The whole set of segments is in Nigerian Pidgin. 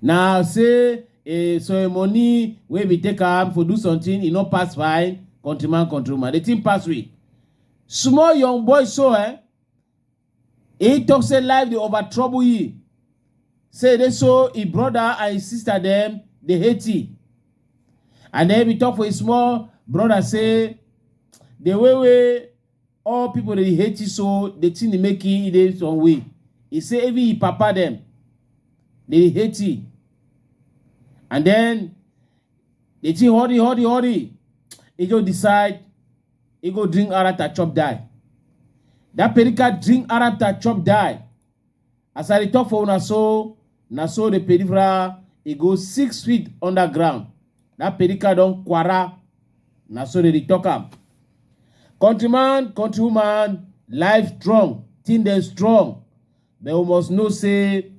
na say a ceremony wey we take am for do something e no pass fine countryman countrywoman the thing pass we small young boy so eh he talk say life dey over trouble ye say dey so him brother and him sister dem dey hate ye and then we talk for him small brother say the way wey All people dey hate you so the thing dey make you dey some way. He say even him papa dem dey hate you. And then the thing hurry, hurry, hurry. He go decide he go drink arata chop die. That perica drink arata chop die. As I dey talk for una so, na so the peripheral e go six feet underground. That peripheral don kwara, na so they dey talk am. Countryman, countrywoman, life strong, thing dem strong. But we must know say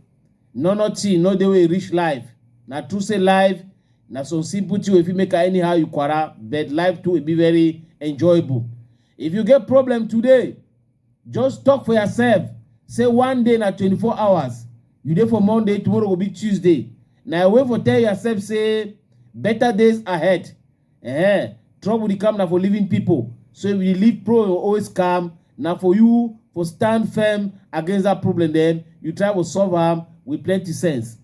no nothing no dey wey e reach life. Na true say life na some simple thing wey fit make am anyhow you kwara, but life too e be very enjoyable. If you get problem today, Just talk for yourself say one day na 24 hours. You dey for Monday, tomorrow go be Tuesday. Na your way for tell yourself say better days ahead. Eh, trouble dey come na for living people. So if you dey live pro you always calm, na for you for stand firm against that problem then you try to solve am with plenty sense.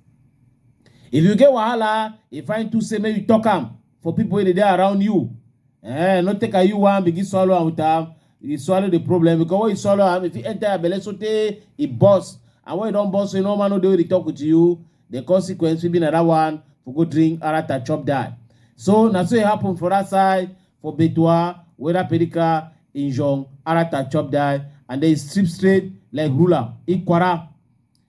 If you get wahala, e fine too say make you talk am. for people wey dey dey around you eh no take am you wan begin swallow am with am you swallow the problem because when you swallow am e fit enter your belle sotey e burst and when e don burst so you no man no dey wey dey talk with you the consequence fit be na that one for go drink arata chop die so na so e happen for that side for betua whether pedika injong arata chop die and then e strip straight like ruler ikwara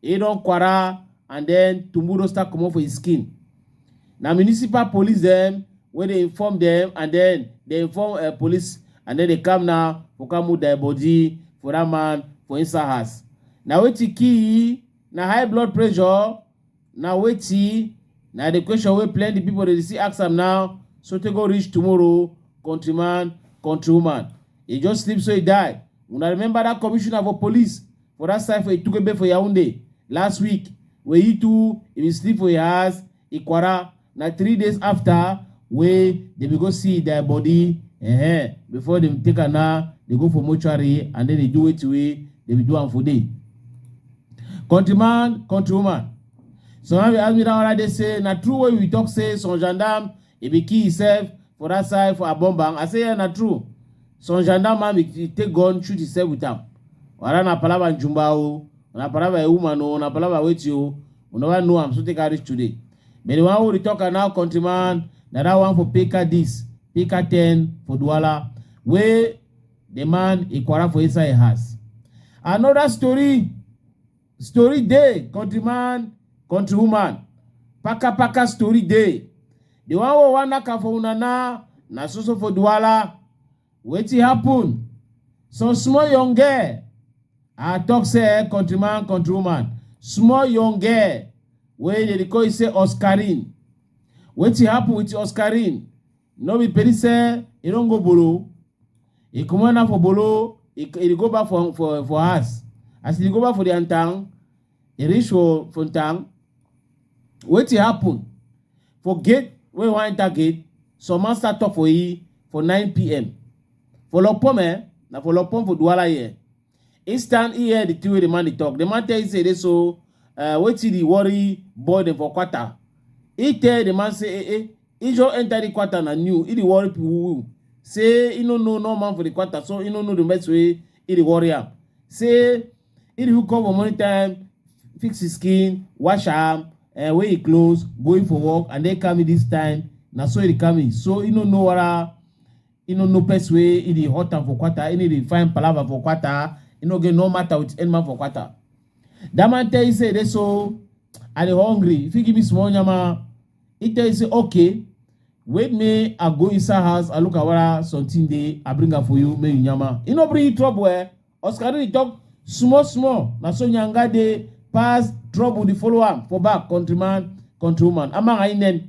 E don kwara and then tumbu don start comot for his skin. Na municipal police dem wey dey inform dem and then dey inform uh, police and then dey come now for come move their body for that man for inside house. Na wetin kill na high blood pressure na wetin na the question wey plenty people dey see ask am now so tey go reach tomorrow countryman countrywoman. E just sleep so e die. Una remember that commissioner for police For that side for Itukebe for Yaoundé last week, where he too he been sleep for your house, Ikwara. Na three days after where they be go see their body, eh, before them take her now, they go for mortuary and then they do it way they be do am for day. Countryman, countrywoman. So now we ask me that one day say na true way we talk say some gendarme e be kill himself for that side for Abomban. I say, yeah, na true. Some gendarme man he take gun, shoot himself with am. Whether na palava and jumba o, na palava a woman o, na palava wait you, we never know am, so take her reach today. But the one who dey talk am now, countryman, na that one for Pika this, Pika 10 for Douala, wey the man he quarrel for inside him house. Another story Story dey, countryman, countrywoman. Paka paka story dey. The one wey wan knack am for una na na so so for Duala. Wetin happen? Some small young girl, I talk say eh, countryman, countrywoman, small young girl wey dey dey call say Oscarine. Wetin happen with Oscarine? no be peri say e don go bolo e comot now for bolo e e dey go back for for for house as e dey go back for their town e reach for for town wetin happen for gate wey wan enter gate some man start talk for e for 9pm for lopom eh na for lopom for duwala here He stand he hear the thing wey the man dey talk. The man tell him say dey so uh, wetin dey worry boy dem for quarter. He tell the man say eh eh, he just enter the quarter na new. He dey worry people say he no know no man for the quarter so he no know the mess wey he dey worry am. Say he dey hook up for morning time, fix his skin, wash am, uh, wear him clothes, going for work and then come in this time. Na so he dey come in. So he no know whether E no know person wey e dey hurt am for kwata, e no dey find palava for kwata, e no get no matter with any man for kwata. That man tell you say e dey so, I dey hungry, you fit give me small nyama? He tell you say okay, wait me I go inside house, I look at whether something dey, I bring am for you, make you nyama. E no bring you trouble eh, Oscar dey talk small small, na so nyanga dey pass trouble dey follow am for back, countryman, countrywoman, ama ainen.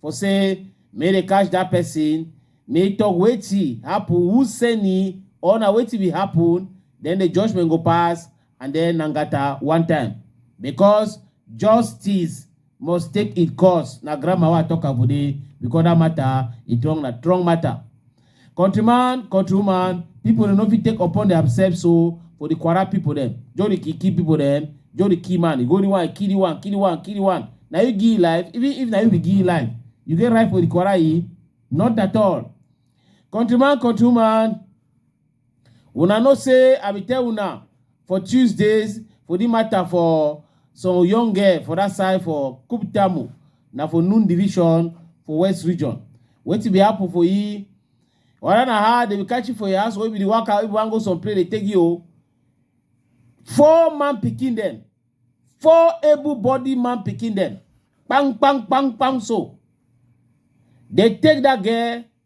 for say make they catch that person make talk wetin happen who send him or na wetin be happen then the judgment go pass and then nangata one time because justice must take its course na grammar wey i talk am for there because that matter e wrong na wrong matter Countryman, countrywoman, people dem no fit take upon themselves so for the Kwara people dem. Joe the key key people dem, Joe the key man, you go the one, kill the one, kill the one, kill the one. Now you give life, even if now you be give life, you get right for the Kwara e? Not at all. Countryman, countrywoman, Una know say I be tell una for Tuesdays for the matter for some young girl for that side for Kuptamu na for Nun division for West region. Wetin be happen for you? Whether na how they be catch you for your house or you be the waka if you wan go some place they take you o. Four man pikin dem, four able body man pikin dem, kpang kpang kpang kpang so. They take that girl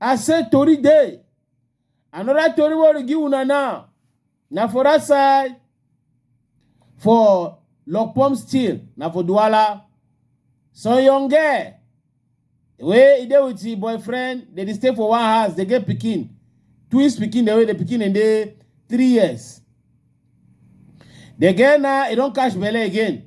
I say tori dey. Another tori wey we give una now na for that side for Lokpom still na for Duala. Some young girl wey e dey with im boyfriend dey dey stay for one house dey get pikin. Twins pikin dey wey the pikin dey dey three years. The girl now e don catch belle again.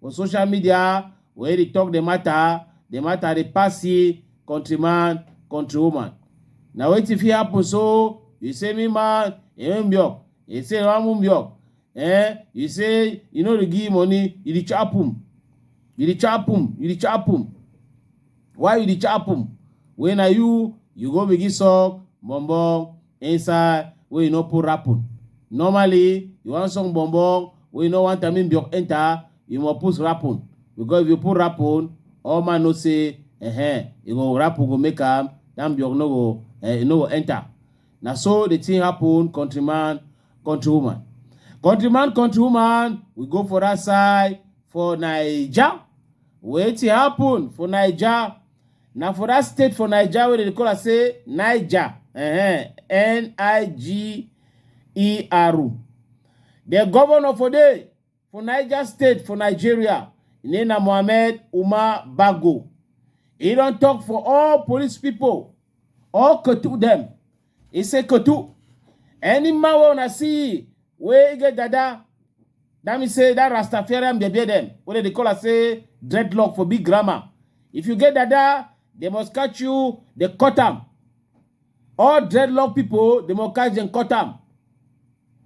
For social media, when they talk the matter, the matter dey pass see countryman, countrywoman. Na wetin fit happen so you say me man, you mbio, you say ramu mbio, eh? You say you no dey give money, you dey chop him, you dey chop him, you dey chop him. Why you dey chop him? When na you, you go begin suck bum bum Inside where you no put rapping. Normally, you want song bombo where you no want Tamim Biok enter, you must put rapping. Because if you put rapping, all man no say, eh, eh, you go rap, go make am, Tamim Biok no go, eh, you no go enter. Now so the thing happen, countryman, countrywoman. Countryman, countrywoman, we go for that side for Niger. Wetin happen for Niger? na for that state for naija wey dem dey call am say niger uh-huh, n-i-g-e-r the governor for there for niger state for nigeria im name na mohammed umar bago e don talk for all police people all ketu dem He say Kotu, any man wey una see wey get dada, that mean say that Rastafarian dey bear them. Wey dem dey call am say dreadlock for big grammar. If you get dada, they must catch you, they cut am. All dreadlock people, they must catch them, cut am.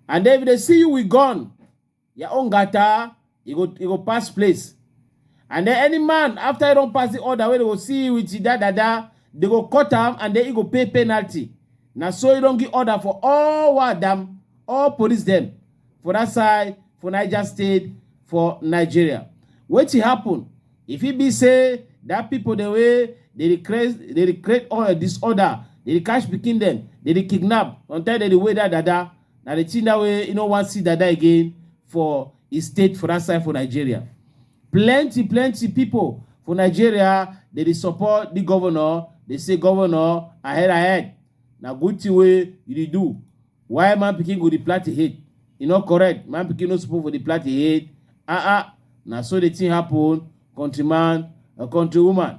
And then if they see you with gun, your own gata e go e go pass place and then any man after e don pass the order wey dey go see you with that dada dey go cut am and then e go pay penalty na so e don give order for all wadam all police dem for that side for niger state for nigeria wetin happen e fit be say that people dem wey dey dey create dey dey create all disorder dey dey catch pikin dem dey dey kidnap on time dem dey weigh that dada Na the thing that way you no wan see Dada again for his state for that side for Nigeria. Plenty, plenty people for Nigeria, they dey support the governor. They say governor ahead ahead. Na good thing wey you dey do. Why man pikin go dey plant him hate? E no correct. Man pikin no suppose for dey plant him hate. Ah ah, na so the thing happen, countryman or countrywoman.